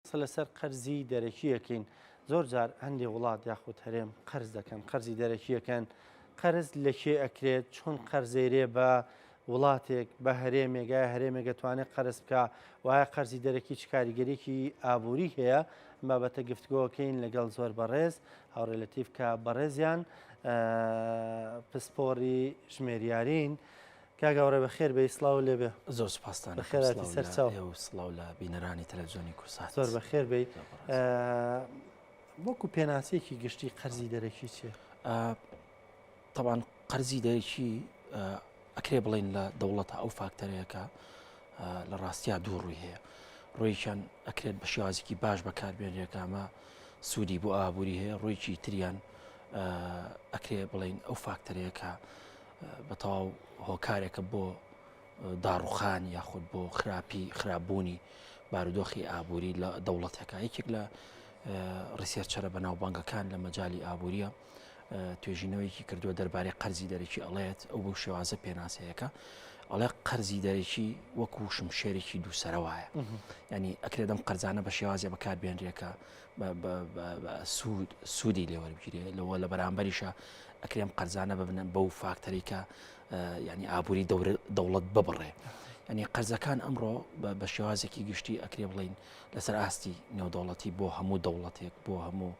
قسە لەسەر قەرزی دەرەکی ئەکەین، زۆر جار هەندێ وڵات یاخود هەرێم قەرز دەکەن، قەرزی دەرەکی ئەکەن، قەرز لە کێ ئەکرێت، چۆن قەرزەیرێ بە وڵاتێک، بە هەرێمێک، ئایا هەرێمێک ئەتوانێت قەرز بکا و ئایا قەرزی دەرەکی چ کاریگەریەکی ئابووری هەیە، ئەم بابەتە گفتگۆ ئەکەین لەگەڵ زۆر بەڕێز، هاوڕێ لەتیف کە بەڕێزیان پسپۆڕی ژمێریاریین. کاک ئاوڕێ بەخێر بێی سڵاوو لێ بێ. زۆر سوپاستان ئەکەم سڵاو لە ئێوە و سڵاو لە بینەرانی تەلەفزیۆنی کورسات. زۆر بەخێر بێی. وەکو پێناسەیەکی گشتی قەرزی دەرەکی چیە؟ تەوان قەرزی دەرەکی ئەکرێ بڵین لە دەوڵەتە ئەو فاکتەرەکە لە ڕاستیا دوو ڕووی هەیە. ڕۆیشان ئەکرێت بە شێوازێکی باش بەکاربێنرێکامە سوودی بۆ ئابووری هەیە ڕۆیکی تریان ئەکرێ بڵین ئەو فاکتەرەکە بە تەواو هۆکارێکە بۆ داڕوخان یاخود بۆ خراپی خراپبوونی بارودۆخی ئابووری لە دەوڵەتەکە یەکێک لە ڕیسێرچەرە بە ناوبانگەکان لە مەجای ئابووریە توێژینەوەیەکی کردووە دەربارەی قەرزی دەرەکی ئەڵێت ئەو بۆ شێوازە پێناسەیەەکە ئەڵێ قەرزی دەرەکی وەکو شمشێرێکی دووسەرەوەە ینی ئەکرێدەم قەرزانە بە شێوازە بەکاربێنرێکە سوود سوودی لێ وەربگیرێ لەوە لە بەرامبەریشە ئەکرێم قەرزانە ببنە بەو فاکتەری کە ینی ئابووری دەوڵەت ببڕێ ینی قەرزەکان ئەمڕۆ بە شێوازێکی گشتی ئەکرێ بڵین لەسەر ئاستی نێودەوڵەتی بۆ هەموو دەوڵەتێک بۆ هەموو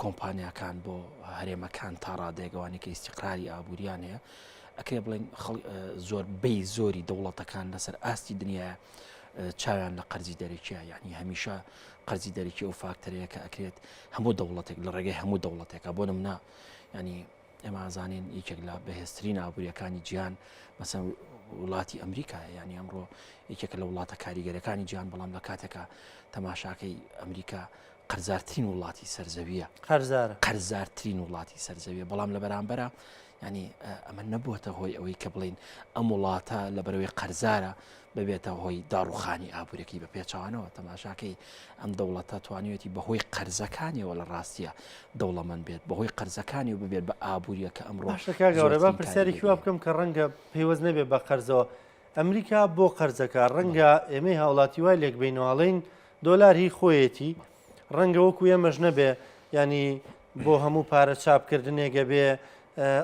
کۆمپانیاکان بۆ هەرێمەکان تا ڕادێگەوانی کە ئیسیقراری ئابووریان هەیە ئەکرێ بڵین زۆر بی زۆری دەوڵەتەکان لەسەر ئاستی دنیاە چاویان لە قەرزی دەرەکیە یعنی هەمیشە قەرزی دەرەکی ئەو فاکتەرەیە کە ئەکرێت هەموو دەوڵەتێک لە ڕێگەی هەموو دەوڵەتێکە بۆ نمنا ینی ئێمازانین یەکێک لە بەهێزترین ئابوووریەکانی جیان مەسەن وڵاتی ئەمریکا یعنی ئەمڕۆ یەکێک لە وڵاتە کاریگەرەکانی جیان بەڵام لە کاتێکە تەماشاکەی ئەمریکا قەرزارترین وڵاتی سەرزەویە قەرزار قەرزارترین وڵاتی سەرزەویە بەڵام لە بەرامبەرە یانی ئەمە نەبووەتە هۆی ئەوەی کە بڵین ئەم وڵاتە لە بەرەوەی قەرزارە ببێتە هۆی داڕوخانی ئابوورەکەی بە پێچوانەوە تەماشاکەی ئەم دەوڵەتە توانیوەتی بەهۆی قەرزەکانیەوە لە ڕاستیە دەوڵەمەند بێت بەهۆی قەرزەکانی و ببێت بە ئابوووریە کە ئەم ڕۆشەکە گەورە بە پرسیارێکی وا بکەم کە ڕەنگە پێیوەز نەبێت بە قەرزەوە ئەمریکا بۆ قەرزەکە ڕەنگە ئێمەی هاوڵاتی وای لێک بینواڵین دۆلار هی خۆیەتی ڕەنگە وەکو ئێمەش نەبێ ینی بۆ هەموو پارە چاپکردنێک گەبێ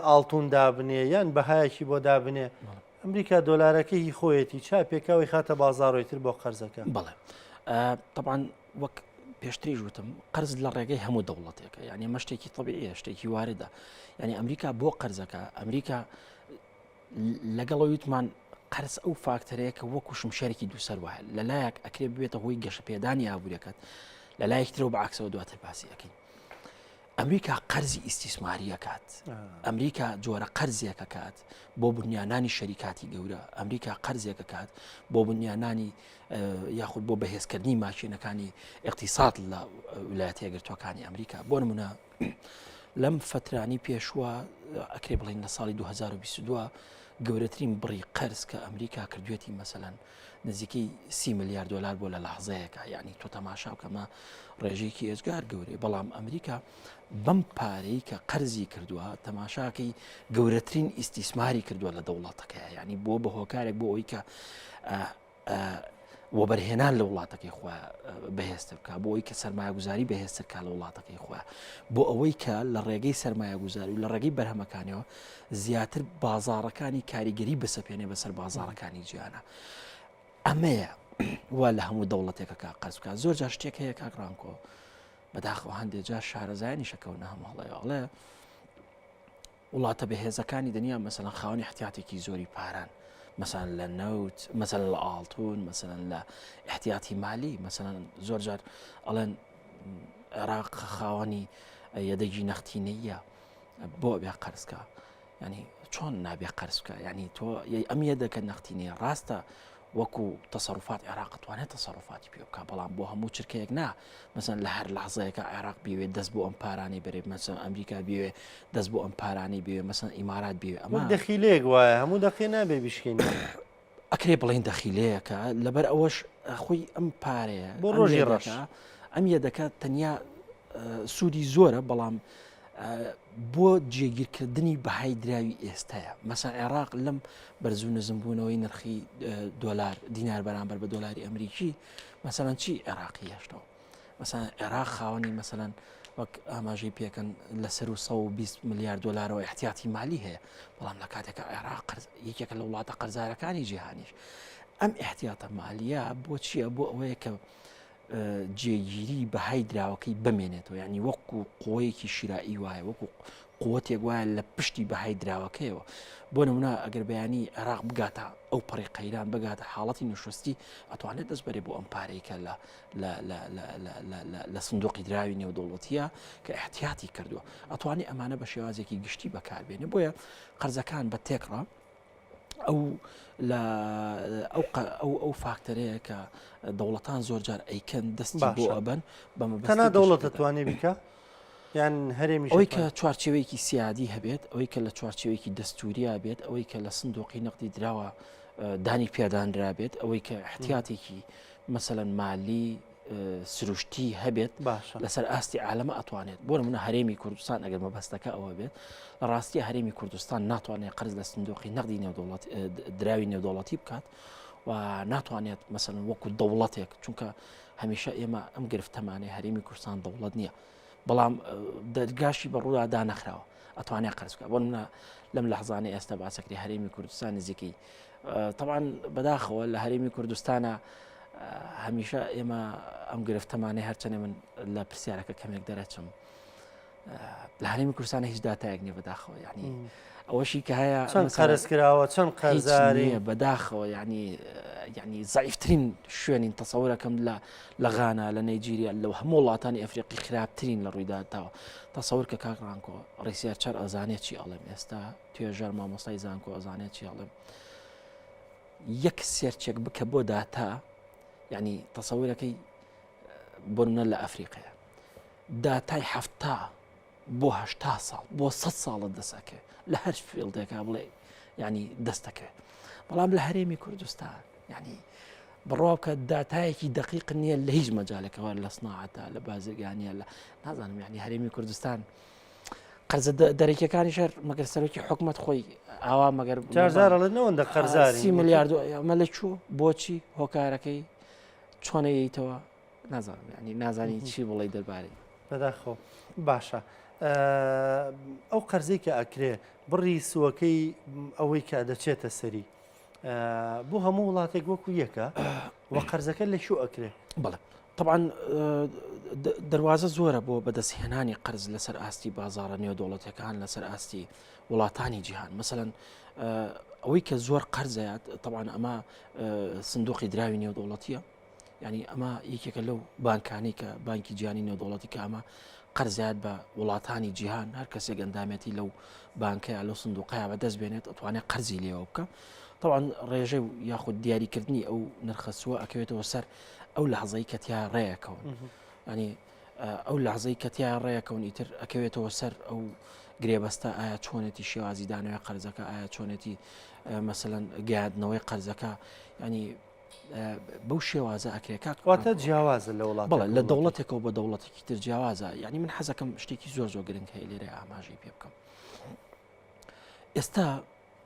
ئاڵتون دابنێ یان بەهایەکی بۆ دابنێ ئەمریکا دۆلارەکە هی خۆیەتی چا پێکاوی خاتە بازارۆی تر بۆ قەرزەکە بڵێ طبعاان وەک پێشتریش وتم قرز لە ڕێگەی هەموو دەوڵەتێکە یعنی مەشتێکی طبیعە شتێکی واردە یعنی ئەمریکا بۆ قەرزەکە ئەمریکا لەگەڵ ئەوەی وتمان قەرز ئەو فاکتەرەیە کە وەکو شمشێرێکی دووسەر وایە لە لایەک ئەکرێ ببێتە هۆی گەشەپێدانی ئابوووریەکەت لە لایەکترەوە بە عکسەوە دواتر باسی ئەەکەین ئەمریکا قەرزی ئیسیسماریەکات ئەمریکا جۆرە قەرزێکە کات بۆ بنیانانی شەریکاتی گەورە ئەمریکا قەرزێکە کات بۆ بنیانانی یاخود بۆ بەهێزکردنی ماشینەکانی اقتصاد لە ولایەتە گرتوەکانی ئەمریکا بۆ نمونە لەم فترانی پێشوە ئەکرێ بڵین لە ساڵی 2022 گەورەترین بڕی قەرز کە ئەمریکا کردوێتی مەسەەن نزیکی سی ملیار دلار بۆ لە لەحزەیەەکە یعنی تۆ تەماشا بکەمە ڕێژێکی ئێزگار گەورەی بەڵام ئەمریکا بەم پارەی کە قەرزی کردووە تەماشاکەی گەورەترین ئیسیسماری کردووە لە دەوڵاتەکە ینی بۆ بە هۆکارێک بۆ ئەوی کە وەبەرهێنان لە وڵاتەکەی خۆ بەهێزتر بکە بۆ ئەوی کە سرمایهگوزاری بەهێزتر کا لە وڵاتەکەی خۆ بۆ ئەوەی کە لە ڕێگەی سرمایهگوزار و لە ڕێگەی بەرهەمەکانەوە زیاتر بازارەکانی کاریگەری بەسەپێنێ بەسەر بازارەکانی جیانە ئەمەیە وا لە هەموو دەوڵەتێکەکە قەز بکە زۆر جا شتێک هەیە کاکڕانکۆ بەداخەوە هەندێک جار شارەزایانی شەکەونە هەمووڵێڵێ وڵاتە بەهێزەکانی دنیا مەسەلەن خاوەنی احتیاتێکی زۆری پارەن مەسەلەن لە نەوت مەسەلەن لە ئاڵتون مەسەلەن لە احتیاتی مالی مەسەلەن زۆر جار ئەڵێن عێراق خاوەنی یەدەگی نەختینەیە بۆ بێ قەرزکە ینی چۆن نابێ قەرزکە ینی تۆ ئەم یەدەکە نەختینەیە ڕاستە وەکو تەسەروفات عێراق توانێت تەسەروفاتی پێ بکا بەڵام بۆ هەموو چرکەیەک نا مەسەن لە هەر لەحزەیەەکە عێراق بوێت دەست بۆ ئەم پارانەی بەرێ مەسەن ئەمریکا بوێ دەست بۆ ئەم پارانەی بوێ مەسەن ئیمارات بوێ ئەمە دەخیلێک وایە هەموو دەقی نابێ بشکین ئەکرێ بڵین دەخیلەیەەکە لەبەر ئەوەش خۆی ئەم پارەیە بۆ ڕۆژی ڕەشە ئەم یە دەکات تەنیا سوودی زۆرە بەڵام بۆ جێگیرکردنی بەهای دراوی ئێستەیە مەسا عێراق لەم بەرزو نزمبوونەوەی نرخی دۆلار دینار بەرامبەر بە دۆلاری ئەمریکی مەسەەن چی عێراقی هێشتەوە مەسا عێراق خاوەنی مەسەەن وەک ئاماژەی پێکەن لە سەر و 120 میلیارد دلارەوە احتیاتی مالی هەیە بەڵام لە کاتێکە عێراق یەکێکە لە وڵاتە قەرزارەکانی جیهانیش ئەم احتیاتە مالیە بۆ چییە بۆ ئەوەیە کە جێگیری بەهای دراوەکەی بەمێنێتەوە یعنی وەکو قوەیەکی شیرایی وایە وەکو قوتێک وایە لە پشتی بەهای دراوەکەیەوە بۆ نمونە ئەگەر بەیانی عێراق بگاتە ئەو پەڕی قەیران بگاتە حاڵەتی نوشستی ئەتوانێت دەست بەرێ بۆ ئەم پارێکە لە لە سندۆقی دراوی نێودوڵەتیە کە احتیاتی کردووە ئەتوانی ئەمانە بە شێوازێکی گشتی بەکاربێنێ بۆیە قەرزەکان بە تێکڕە ئەو لە ئەو فاکتەرەیە کە دەوڵەتان زۆر جار ئەیکەن دەستی بۆ ئەبەن بەمەنا دەوڵەت دەتوانێت بیکە یان هەرێمی ئەوی کە چوارچەوەیەکی سیادی هەبێت ئەوەی کە لە چوارچەوەیەکی دەستوریا بێت ئەوەی کە لە سندۆقی نەقدی دراوە دانی پێدانرابێت ئەوەی کە احتیاتێکی مەسەەن مالی سروشتی هەبێت لەسەر ئاستی عالەمە ئەتوانێت بۆ منە هەرێمی کوردستان ئەگەر مەبەستەکە ئەوە بێت لە ڕاستی هەرێمی کوردستان ناتوانێت قرز لە سندۆقی نەقدی نێودوڵەت دراوی نێودوڵەتی بکات و ناتوانێت مەسن وەکو دەوڵەتێک چونکە هەمیشە ئێمە ئەم گرفتەمانەی هەرێمی کوردستان دەوڵەت نییە بەڵام دەرگاشی بە ڕوودا دانەخراوە ئەتوانێت قەرز بکە بۆ منە لەم لە حزانانی ئێستا باسەکری هەرێمی کوردستان نزیکەی تەوان بەداخەوە لە هەرێمی کوردستانە هەمیشە ئێمە ئەم گرفتەمانەی هەرچەنێ من لە پرسیارەکە کەمێک دەرەچم لە هەرێمی کوردستانە هیچ دااتایەک نیە بەداخەوە یعنی ئەوەشی کە هەیە چەند قەرزکراوە چەند قەرزاری بەداخەوە ینی ینی زایفترین شوێنین تەسەورەکەم لە لە غانا لە نەیجیریا لەو هەموو وڵاتانی ئەفریقی خراپترین لە ڕوویداتەوە تەسەور کە کاک ڕانکۆ ڕیسیار چەر ئەزانێت چی ئەڵێم ئێستا توێژەر مامۆستای زانکۆ ئەزانێت چی ئەڵێم یەک سێرچێک بکە بۆ داتا ینی تەسەورەکەی بۆنە لە ئەفریقەیە داتای هەفتا بۆ هەشتا ساڵ بۆ سەد ساڵت دەست ئەکەوێت لە هەر فیڵدێکا بڵێ ینی دەستەکەوێت بەڵام لە هەرێمی کوردستان ینی بڕواکە داتایەکی دقیق نییە لە هیچ مەجالەکەەوە لە سناعاتە لە بازرگانیە لە نازانم یعنی هەرێمی کوردستان قەرزە دەرەکیەکانی شەر مەگەر سەرۆکی حکومت خۆی ئاوا مەگەر جارجارڵێنەوەندە قەرزاری میلیارد ئەمە لە چوو بۆچی هۆکارەکەی چۆنەیەیتەوە نازانم ینی نازانین چی بڵی دەربارەی بەداخۆ باشە ئەو قەرزەی کە ئەکرێ بڕی سوەکەی ئەوەی کە دەچێتە سەری بۆ هەموو وڵاتێک وەکو یەکە و قەرزەکە لە شو ئەکرێ بڵێ طبعاان دەواازە زۆرە بۆ بەدەستهێنانی قەرز لەسەر ئاستی بازارە نێو دەوڵەتەکان لەسەر ئاستی وڵاتانی جیهان مەمثلەن ئەوەی کە زۆر قەرزەیات طبعاان ئەمە سندوقی دراوی نێو دەوڵەتیە یانی ئەمە یەکێکە لەو بانکانی کە بانکی جیانی نێودوڵەتی کامە قەرزیات بە وڵاتانی جیهان هەر کەسێک ئەندامێتی لەو بانکەیە لەو سندوقەیە بە دەست بێنێت ئەتوانێت قەرزی لێەوە بکە طبعاان ڕێژە و یاخود دیاریکردنی ئەو نرخەسووە ئەکەوێتەوە سەر ئەو لە حەزەی کەتیا ڕێەکەون ینی ئەو لە حەزەی کەتیا ڕێەکەون ئیتر ئەکەوێتەوە سەر ئەو گرێبەستە ئایا چۆنێتی شێوازی دانەوەی قەرزەکە ئایا چۆنێتی مەمثلەن گادنەوەی قەرزەکە ینی بەو شێوازە ئەکرێ کاک واتە جیاوازە لە وڵات بڵێ لە دەوڵەتێکەوە بە دەوڵەتێکی تر جیاوازە یعنی من حەزەکەم شتێکی زۆر زۆر گرنگ هەیە لێرە ئاماژەی پێ بکەم ئێستا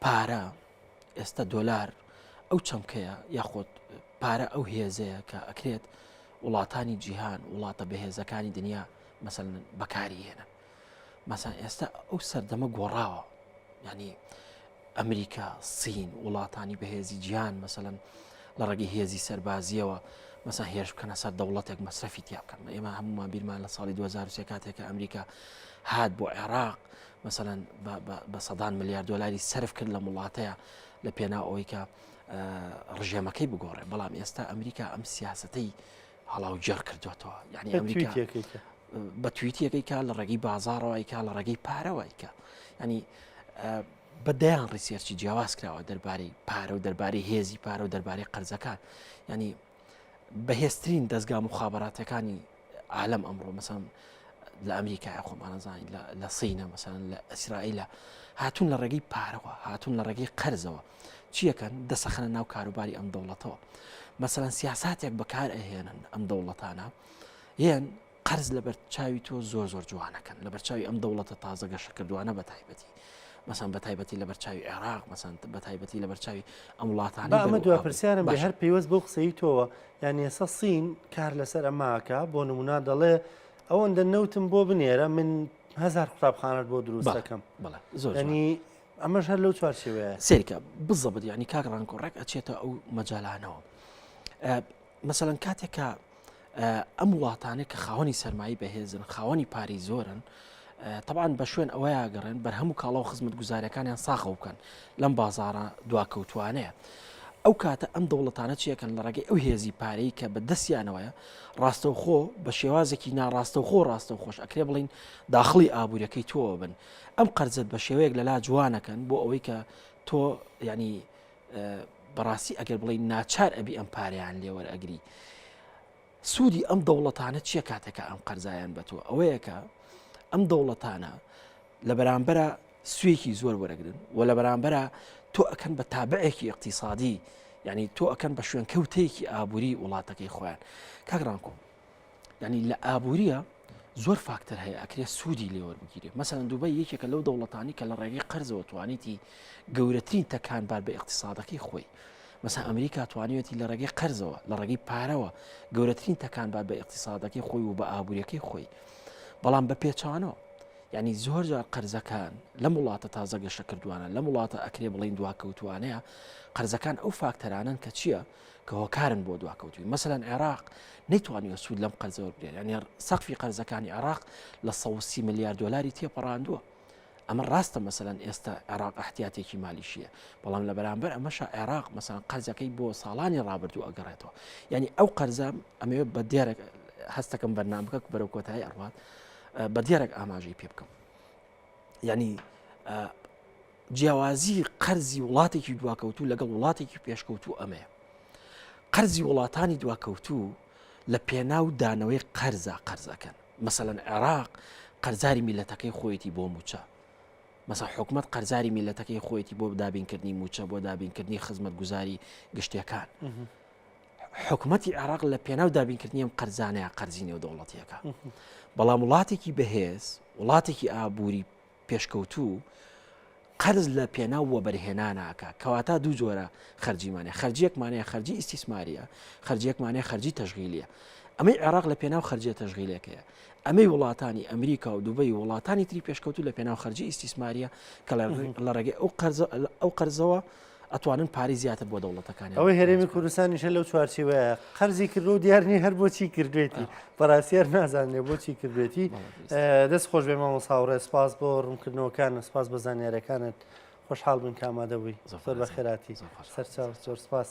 پارە ئێستا دۆلار ئەو چەمکەیە یاخۆت پارە ئەو هێزەیە کە ئەکرێت وڵاتانی جیهان وڵاتە بەهێزەکانی دنیا مەسەن بەکاری هێنن مەسەن ئێستا ئەو سەردەمە گۆڕاوە ینی ئەمریکا سین وڵاتانی بەهێزی جیان مەسەن لە ڕێگەی هێزی سەربازیەوە مەسا هێرش بکەنە سەر دەوڵەتێک مەسرفی تیا بکەن ئێمە هەمومان بیرمان لە ساڵی 2023 کاتێکە ئەمریکا هات بۆ عێراق مەسەن بە سەدان ملیار دلاری سرف کرد لە وڵاتەیە لە پێنا ئەویکە ڕژێمەکەی بگۆڕێ بەڵام ئێستا ئەمریکا ئەم سیاستەی هەڵاو گێڕ کردوێتەوە یعنی ئەمریکا بە تویتیەکەی کا لە ڕێگەی بازارەوەی کا لە ڕێگەی پارەوەی کە ینی بە دەیان ڕیسێرچی جیاواز کراوە دەربارەی پارە و دەربارەی هێزی پارە و دەربارەی قەرزەکان ینی بەهێزترین دەستگا مخاباتەکانی عالم ئەمڕۆ مەسەن لە ئەمریکای خۆمانەزانین لە سینە مەسەن لە ئەسرائیلە هاتون لە ڕێگەی پارەوە هاتون لە ڕێگەی قەرزەوە چیەکەن دەسەخەنە ناو کاروباری ئەم دەوڵەتەوە مەسەەن سیاساتێک بەکار ئەهێنن ئەم دەوڵەتانە یان قەرز لەبەر چاوی تۆ زۆر زۆر جوانەکەن لە بەرچاوی ئەم دەوڵەتە تازە گەشەکردوانە بە تایبەتی مەسان بە تایبەتی لە بەرچاوی عێراق مەسان بە تایبەتی لە بەرچاوی ئەم وڵاتانی ئەمە دو پرسیارم بە هەر پێیوەست بەو قسەی تۆوە یان ێسە سین کار لەسەر ئەماکە بۆ نمونا دەڵێ ئەوەندە نەوتم بۆ بنێرە من هزار قوتابخانت بۆ دروستەکەم بەڵێ زۆرنی ئەمەش هەر لەو چوارچێوەیە سێرکە بزەبت ینی کاک ڕانکۆ ڕێک ئەچێتە ئەو مەجالانەوە مەسەەن کاتێکە ئەم وڵاتانێک کە خاوەنی سەرمایی بەهێزن خاوەنی پاری زۆرن طبعاان بە شوێن ئەوە یاگەڕێن بەر هەموو کاڵا و خزمەت گوزارەکانیان ساخە بکەن لەم بازارە دواکەوتوانەیە. ئەو کاتە ئەم دەوڵەتانە چیەکەن لە ڕێگەی ئەو هێزی پارەی کە بە دەستیانەوەیە ڕاستەوخۆ بە شێوازێکی ناڕاستەوخۆ ڕاستەوخۆش ئەکرێ بڵین داخڵی ئابوووریەکەی تۆوە بن ئەم قەرزەت بە شێوەیەک لەلا جوانەکەن بۆ ئەوەی کە تۆ یعنی بەڕاستی ئەگەر بڵی ناچار ئەبی ئەم پاریان لێوەرەگری سوودی ئەم دەوڵەتانە چیە کاتەکە ئەم قەرزایان بە تۆ ئەوەیەکە ئەم دەوڵەتانە لە بەرامبەرە سوێکی زۆر وەرەگرن و لە بەرامبەرە تۆ ئەکەن بە تابعێکی اقتصادی یعنی تۆ ئەکەن بە شوێنکەوتێکی ئابووری وڵاتەکەی خۆیان کاگرانکۆم ینی لە ئابووریە زۆر فاکتەر هەیە ئەکرێ سوودی لێوەربگیرێ مەسەن دوبای یەکێکە لەو دەوڵەتانی کە لە ڕێگەی قەرزەوە توانیتی گەورەترین تەکان بار بە اقتصادەکەی خۆی مەسا ئەمریکا توانیوەتی لە ڕێگەی قەرزەوە لە ڕێگەی پارەوە گەورەترین تەکان بار بە اقتصادەکەی خۆی و بە ئابوووریەکەی خۆی بەڵام بە پێچانەوە ینی زۆر جار قەرزەکان لەم وڵاتە تازە گەشە کردوانە لەم وڵاتە ئەکرێ بڵین دواکەوتوانەیە قەرزەکان ئەو فاکتەرانن کە چییە؟ کە هۆکارن بۆ دواکەوتوی مەسەن عێراق نەیتوانیوە سوود لەم قەرزەوە بگرێت یانە سەقفی قەرزەکانی عێراق لە 130 ملیار دلاری تێپەڕاندووە ئەمە ڕاستە مەسەن ئێستا عێراق احتیاتێکی مالیشیە بەڵام لە بەرامبەر ئەمەشا عێراق مەسەن قەرزەکەی بۆ ساڵانی ڕابردوو ئەگەڕێتەوە یعنی ئەو قەرزە ئەمەوێ بە دێرە هەستەکەم بەرنامەکە بەرەو کۆتایی ئەڕوات بە دێرەك ئاماژەی پێ بکەم یعنی جیاوازی قەرزی وڵاتێکی دواکەوتوو لەگەڵ وڵاتێکی پێشکەوتوو ئەمەیە قەرزی وڵاتانی دواکەوتوو لە پێناو دانەوەی قەرزە قەرزەکەن مەسەەن عێراق قەرزاری میلەتەکەی خۆیەتی بۆ موچە مەسا حکومت قەرزاری میلەتەکەی خۆیەتی بۆ دابینکردنی موچە بۆ دابینکردنی خزمەت گوزاری گشتەکان حکومەتی عێراق لە پێناو دابینکردنی ئەم قەرزانەیە قەرزی نێودەوڵەتیەکە بەڵام وڵاتێکی بەهێز وڵاتێکی ئابووری پێشکەوتوو قەرز لە پێناو وەبەرهێناناکە کەواتە دوو جۆرە خەرجیمانە خەرجیەکمانەیە خەرجی ئیسیسماریە خەرجیەکمانەیە خەرجی تەژغیلیە ئەمەی عێراق لە پێناو خەرجە تەژغیلەکەیە ئەمەی وڵاتانی ئەمریکا و دوبی وڵاتانی تری پێشکەوتو لە پێناو خەرجی ئیسیسماریە کە لە ڕێگەی ئەو قەرزە ئەو قەرزەوە ئەتوانن پارەی زیاتر بۆ دەوڵەتەکانیان ئەوەی هەرێمی کوردستانیشە لەو چوارچیوەیە قەرزی کردو و دیارنی هەر بۆچی کردوێتی بەڕاستیار نازانێ بۆچی کردوێتی دەست خۆش بێ مامۆ ساوڕێ سپاس بۆ ڕوونکردنەوەکان سپاس بە زانیارەکانت خۆشحاڵ بن کامادە بووی زۆر بە خێراتی سەرچاو زۆر سپاس.